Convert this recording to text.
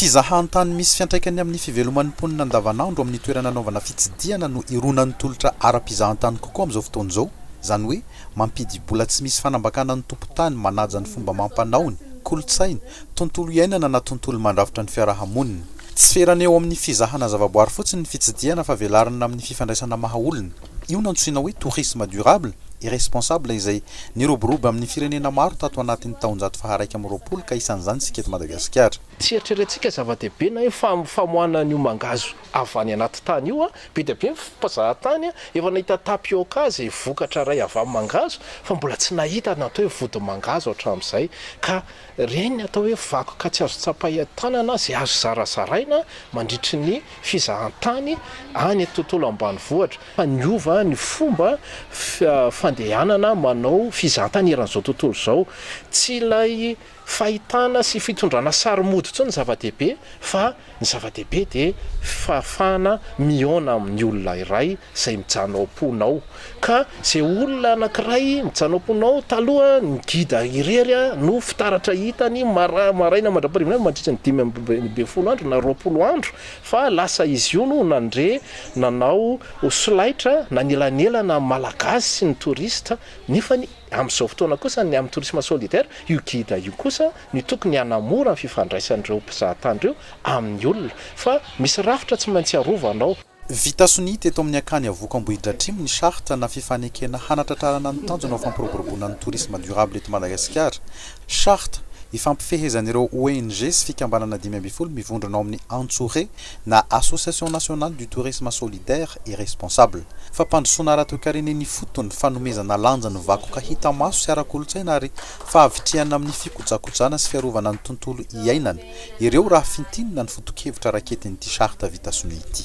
Fizahan-tany misy fiantraikany amin'ny fiveloman'ny mponina andavanandro amin'ny toerana anaovana fitsidihana no ironan'ny tolotra ara-pizahan-tany kokoa amin'izao fotoana izao, izany hoe mampidibola tsy misy fanambakana ny tompon-tany manaja ny fomba amam-panaony, kolontsainy, tontolo iainana na tontolo mandrafitra ny fiarahamoniny. Tsy ferana eo amin'ny fizahana zavaboary fotsiny ny fitsidihana fa velarina amin'ny fifandraisana maha-olona. Io no antsoina hoe tourisme durable et responsable izay niroborobo amin'ny firenena maro tato anatin'ny taonjato faharaika amby roapolo ka isan'izany isika eto Madagasikara. Tsy eritreretintsika zava-dehibe na hoe famoahana an'io mangahazo avy any anaty tany io. Be dia be ny mpizaha tany efa nahita tapioca izay vokatra iray avy amin'ny mangahazo fa mbola tsy nahita ny atao hoe vodimangahazo hatramin'izay ka Ireny ny atao hoe vakoka tsy azo tsapain-tanana izay azo zarazaraina mandritry ny fizahantany any an-tontolo ambanivohitra fa niova ny fomba fandehanana manao fizahantany eran'izao tontolo izao. Tsy ilay fahitana sy fitondrana sary mody intsony ny zava-dehibe fa. Ny zava-dehibe dia fahafahana mihaona amin'ny olona iray izay mijanona ao am-ponao. Ka izay olona anankiray mijanona ao am-ponao, taloha ny gida irery no fitaratra hitany mara, maraina mandra-parivan'alina mandritra ny dimy ambin'ny folo andro na roapolo andro, fa lasa izy io no nandre nanao solaitra nanelanelana amin'ny Malagasy sy ny touristes, nefany amin'izao fotoana kosa ny amin'ny tourisme solidaire io gida io kosa ny tokony hanamora ny fifandraisan'ireo mpizahatany ireo amin'ny olona fa misy rafitra tsy maintsy arovanao. Vita sonia teto amin'ny Akany Avoko Ambohidratrimo ny charte na fifanekena hanatratrarana ny tanjona ho fampiroboroboana ny tourisme durable eto Madagasikara. Charte ifampifehezan'ireo ONG sy fikambanana dimy ambin'ny folo mivondrona ao amin'ny Antsure na Association Nationale du Tourisme Solidaire et Responsable. Fampandrosoana ara-toekarena eny ifotony, fanomezana lanja ny vakoka hita maso sy ara-kolontsaina ary Fahavitrihana amin'ny fikojakojana sy fiarovana ny tontolo iainana, ireo raha fintinina ny foto-kevitra raketin'ity charte vita sonia ity.